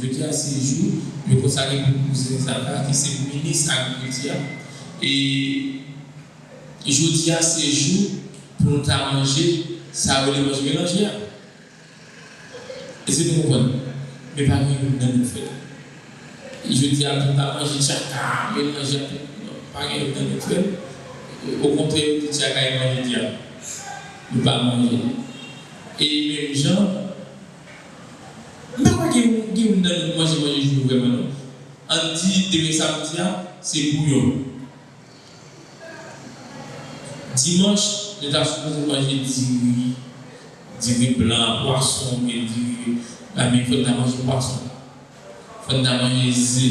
Jodi a se jou yo konsakre pou Kouzen Zaka ki se minis agrikilti a e jodi a se jou pou nou ta manje sa yo rele manje melanje a. Èske nou konprann? Men pa gen youn nan nou k fè l. Jodi a pou nou ta manje tchaka a melanje ak tout non, pa gen youn nan nou k fè l. Okontrè yo di tchaka e manje dyab. Nou pa manje l. E menm jan. M pa kwè gen youn nan nou manje manje jwe vrèman non. Ann di demen samdi a se bouyon. Dimanch nou ta sipoze manje diri, diri blan a, pwason oubyen diri, men fò n ta manje pwason. Fò n ta manje ze.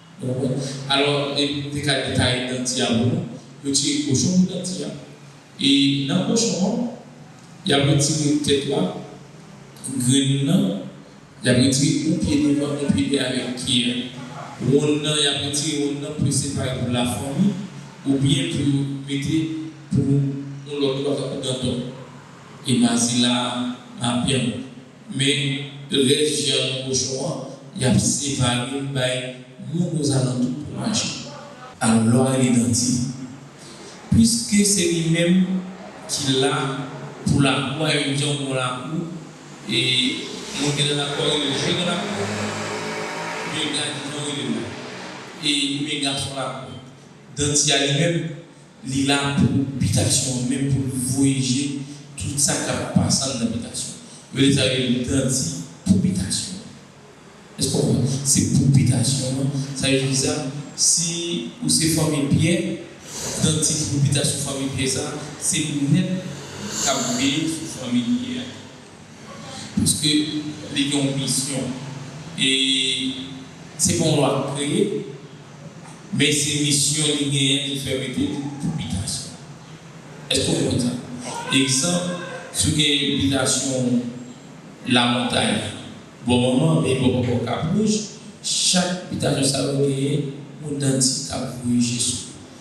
Bon bon. Alò e te ka detaye danti a pou nou. Yo tire kochon pou danti a. E nan kochon an, y ap retire tèt la, grenn nan, y ap retire yon pye devan, yon pye dèyè avèk pye a. Wonn nan, y ap retire wonn nan pou yo separe pou lafanmi oubyen pou yo mete pou yon lòt bagay tankou dantò. E mazila a, mapyanm. Men rès vyann kochon an y ap separe l bay moun ozalantou pou manje. Alò li nan di, Piske se li menm ki la pou lakou a, yo di yon bon lakou, e moun ki nan lakou a rele l je gran lakou, oubyen gadjou jan yo rele l la, e oubyen gason lakou, danti a li menm, Li la pou bitasyon an menm pou l voye je tout sa k ap pase anndan bitasyon an. Yo deja rele l dan di pou bitasyon an. Èske w konprann? Se pou bitasyon an. Sa vle di ki sa? Si ou se fanmi Pyè, dan di pou bitasyon fanmi Pyè sa a, se linèt k ap veye sou fanmi Pyè a. Piske li gen yon misyon. E se pa yon lwa ki kreye, men se misyon li genyen ki fè mete li pou bitasyon. Èske ou konprann sa? Egzanp, si w gen bitasyon Lamontay, Bò Manman anben bò Papa w Kap Wouj, chak bitasyon sa yo genyen yon dantista pou kore je sou yo.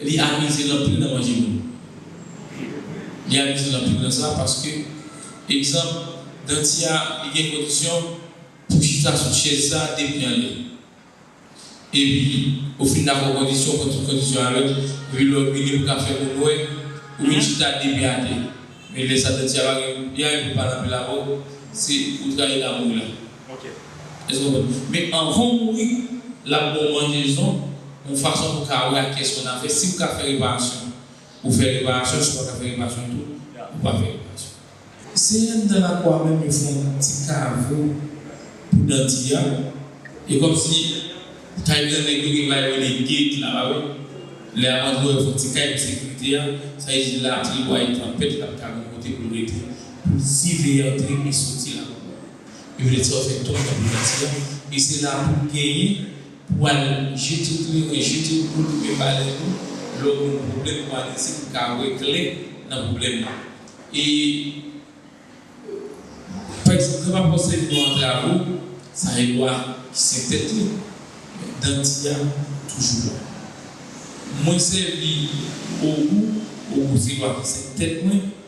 Li abize l anpil nan manje moun. Li abize l anpil nan sa paske egzanp danti a li gen kondisyon pou chita sou chèz sa depi anlè. Epi ou fin dakò kondisyon pran tout kondisyon avèl epi lè w vini pou ka fè moun wè ou vin chita depi atè men lè sa danti a pa gen li anyen pou l pale anpil avè w se ou trayi damou w la. Èske w konprann? Men anvan w mouri, l ap ba w manjezon yon fason pou w ka wè ak kiyès ou nan afè. Si ou ka fè reparasyon, ou fè reparasyon. Si ou pa ka fè reparasyon ditou, ou pa fè reparasyon. Seyè anndan lakou a menm, yo fè yon ti kavo pou danti a. E kòmsi kay grannèg yo gen bagay yo rele gate la, pa wè? Lè a antre w, yo fè yon ti kay pou sekirite a. Sa vle di lapli, wa yi, tanpèt, l ap ka gen yon kote pou l rete pou l siveye antre e soti lakou a. Yo vle di òfè tòy nan priyati a e se la pou genyen pou al jete kleren, jete dlo limen balèn ou lè w gen yon pwoblèm pou adrese pou ka wè klè nan pwoblèm nan. E pa egzanp lè w ap obsève yon antravo sa gen dwa sen tèt li men danti a toujou la. Mwen sèvi ogou, ogou se dwa ki sen tèt mwen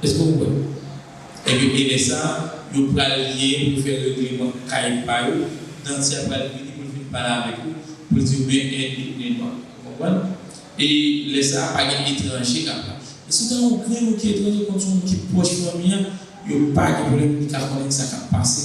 Eske ou kwè? Ebyen gen lè sa yo pral ye pou yo fè regleman kay pa yo, Danti a pral vini pou l fin pale avèk ou, pou l di ou men 1 et 2 pnen nwa. Ou konprann? E lè sa pa gen etranje k ap la. E si w ta yon grenn moun ki etranje konn se yon moun ki pwòch fanmi an, yo pa gen pwoblèm pou li ka konnen sa k ap pase.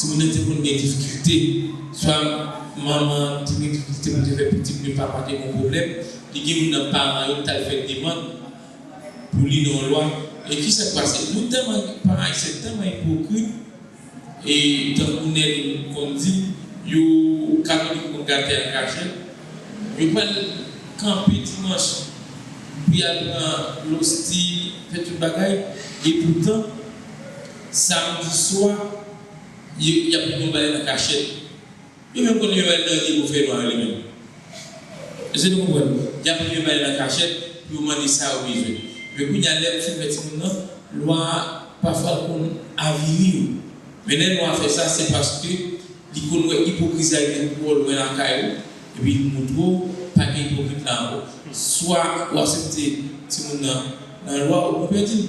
Timoun nan te konn gen difikilte, swa manman an te gen difikilte pou l te fè pitit li pa pase yon pwoblèm, li gen youn nan paran yo ki t al fè demann pou li nan yon lwa. E ki sa k pase? Nou tèlman, paran ayisyen tèlman ipokrit e tankou Nèl konn di, yo katolik yo konn gate an kachèt, yo pral kanpe dimanch pou y al pran losti, fè tout bagay, epoutan, Samdi swa, yo y ap pran bal nan kachèt. Yo menm konnen yo al nan ri pou fè nwa yo menm. Èske nou konprann? Y ap pran bal nan kachèt pou yo mande sa yo bezwen. Men kounye a, lè ou fin fè timoun nan, lwa a pafwa l konn avili ou. Men lè lwa a fè sa, se paske li konn wè ipokrizi a rive twò lwen lakay ou epi li montre w pa gen ipokrit la ankò. Swa ou asepte timoun nan nan lwa ou konvèti l,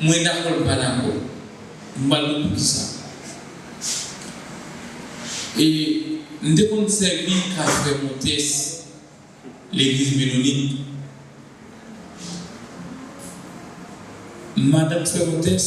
Mwen dakò li pa dakò. M pral di w poukisa. E m te konn sèvi ka frè Montes legliz Menonit. Madanm frè Montes.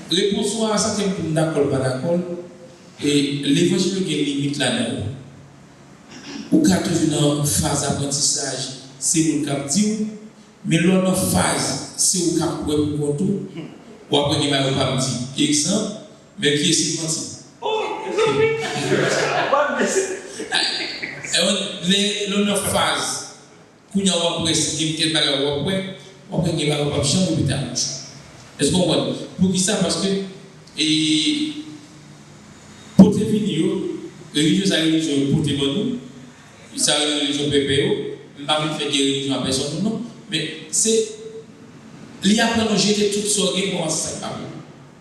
Repons ou a, sa ke m pou m dakò l pa dakò l, e levanjil yo gen limit ladan yo. Ou ka toujou nan faz aprantisaj se moun k ap di w, men lè w nan faz se ou k ap wè pou kont ou, w ap wè gen bagay ou p ap di. Egzanp, men ki eseye manti. Lè w nan faz. Kounya wap wè si gen kèk bagay wap wè, wap wè gen bagay ou pap janm repete ak bouch ou. Èske ou konprann? Poukisa? Paske e pote vini yo, relijyon sa relijyon yo pote ban nou, sa yo rele relijyon pèpè yo, m pa vin fè gè relijyon a pèsòn nou non, men se li aprann ou jete tout sa ou gen kòmanse sa k pa bon.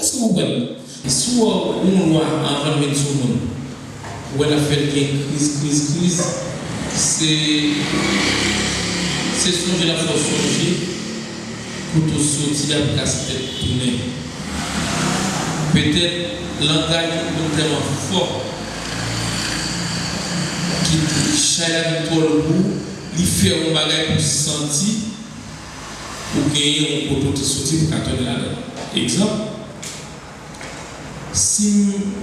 Eske ou wèl si ou ou moun wa anvanl vin sou moun ou wè lap fèl gen kriz kriz kriz se se sonje lap fè w sonje kote ou soti a pou ka se tèt tounen petèt langaj yon moun tèlman fò ki chay la vin twò lou pou li fè yon bagay pou santi. pou genyen yon poto ki soti pou ka tonbe ladann. Egzanp, Si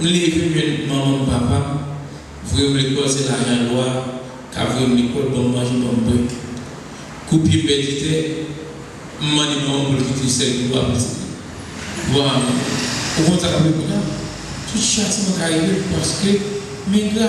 m leve men manman m papa m voye m lekòl se lajan lwa ka voye m lekòl ban m manje ban m bwè. Kou pye m pèdi tè, m mande manman m pou l kite sèl ki lwa pitit li. Lwa a menm, ou konn sa k ap rive kounya? Tout chatiman ka rive m paske m engra.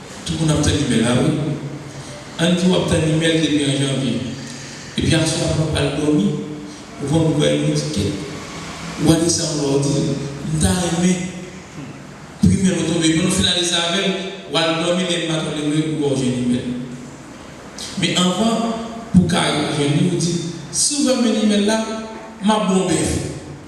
Tout moun ap tann email la wi. Ann di wap tann email depi an janvye. Epi aswè avan ou pral dòmi, ou pran pou bay moun ticket. Ou pa di sa ankò ou di, m ta renmen pou email ou tonbe epi lè ou fin ale sa avèl, wal dòmi lè inba to leve ou wè ou jwenn email. Men anvan pou ka jwenn li ou di, si ou fèm jwenn email la, map bon bèf.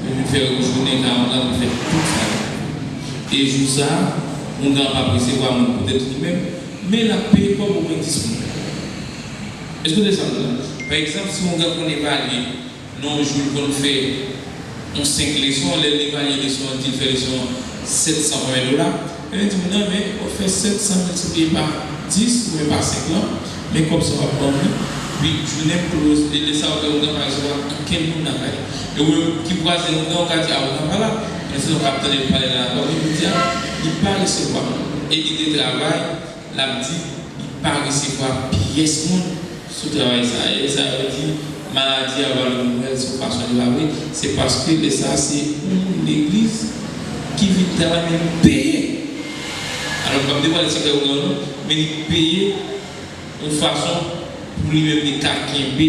Pou m fè ou jounen Naaman lan te fè tout sa li vle. E jou sa a, Oungan ap apresevwa moun poutèt li menm, men l ap peye kòb omwen dis moun pou li. Èske w desann la? Pa egzanp, si Oungan konn evalye, nan yon jou l konn fè yon senk leson, lè l evalye leson an, l di l fè leson an sèt san konbyen dola. Yo di m nan men wap fè 700 miltipliye pa 10 oubyen pa 5 lan men kòb sa wap banm li epi jounen m kloz e lèsa ouvè ougan pa janm ap gen kenn moun nan kay e wè ki vwazen ougan ou ka di a ougan pa la men se lè w ka ap tande l pale la banm li pou di a li pa resevwa m e li de travay lap di li pa resevwa pyès moun sou travay sa e lesa yo di maladi a valè nouvèl se yon fason di pale se paske lesa se yon moun legliz ki vin travay men li peye alò m pap devwale sekrè ogan nou men li peye yon fason pou li menm li ka kenbe.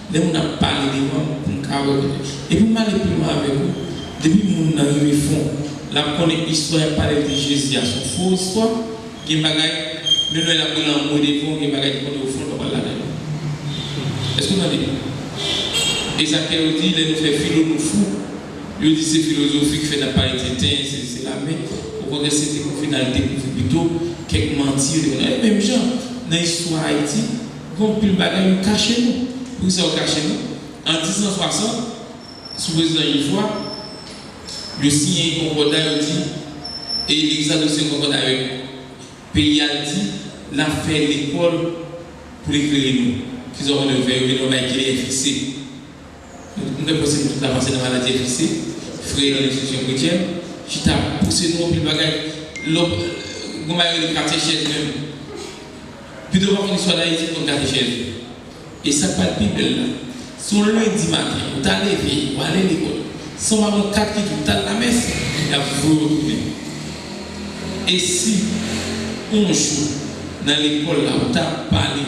Lè moun ap pale devan m pou m ka wè kote. Epi m ale pi lwen avèk ou, depi moun nan rive fon, l ap konnen istwa y ap pale l di Jezi a s on fo istwa, gen bagay, menm lè l ap rele anmwe devan w gen bagay ki pote w fon l pa pral ladan yo. Èske w tande? E sa kè yo di lè nou fè filo nou fou, yo di se filozofi k fè n ap pale tenten, sesi sela, men okontrè se te pou vin al dekouvri pito kèk manti yo te konn. E menm jan nan istwa Ayiti. Gon pil bagay ou kache nou. Poukisa ou kache nou? An 1060, sou prezidan Ivoire, yo siyen yon konkòda yo di e Exato siyen konkòda avèk peyi a l di l ap fè lekòl pou l eklere nou. Kisa w konnen yo fè? Yo mennen yo bay kle enfikse. Nou fè posib tout avanse nan maladi enjistis, frè yo nan enstitisyon kretyen chita pouse nou anpil bagay. Lè w Gon bagay yo rele katechèz menm. Pito w pa konn istwa Dayiti pou konn katechèz. E sa k pral pi bèl la, si yon lendi maten ou ta leve, ou ale lekòl, san w pa konn kat ki di pou t al lamès, y ap voye w tounen. E si yon jou nan lekòl la ou ta pale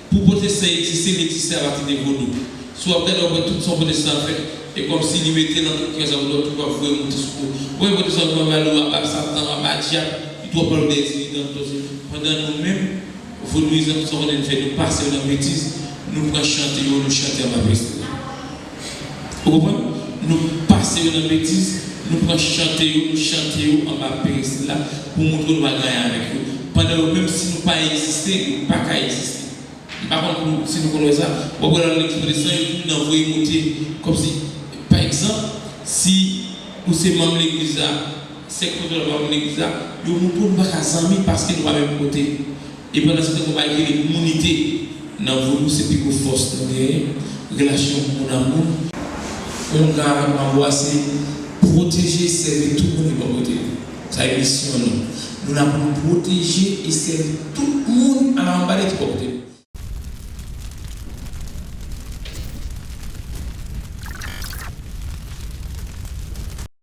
Pou pwotestan egziste li egziste apati de vodou. Si wap gade wap wè tout sa pwotestan ap fè e kòmsi li mete nan tout kè sa wap tou wap voye monte sou kou. Ou pa wè pwotestan yo kòmanse pale ou a bab satan ou a bab dyab li tou wap pale ou dèyè diridan nou se pandan nou menm vodouyizan tout sa konnen nou fè nou pase yo nan betiz nou pran chante yo nou chante anba prezidan. Ou konprann? Nou pase yo nan betiz, nou pran chante yo, nou chante yo anba perestil la pou montre nou pa gen anyen avèk yo, pandan yo menm si nou pa egziste, yo pa ka egziste. M pa konn pou si nou konn wè sa, w ap wè lè w nan legliz pwotestan yo toujou nan voye monte kòmsi pa egzanp si ou se manm legliz la, sèk pwotestan yo pa manm legliz la, yo montre w nou pa ka zanmi paske nou pa menm kote. E pandan se tan konpayi ki rele Mounite nan vo nou se pi gwo fòs nou genyen, relasyon moun a moun. Ongan avèk manbo-a se pwoteje, sèvi tout moun ki bò kote nou. Sa e misyon nou. Nou la pou nou pwoteje e sèvi tout moun ala anba de ki bò kote nou.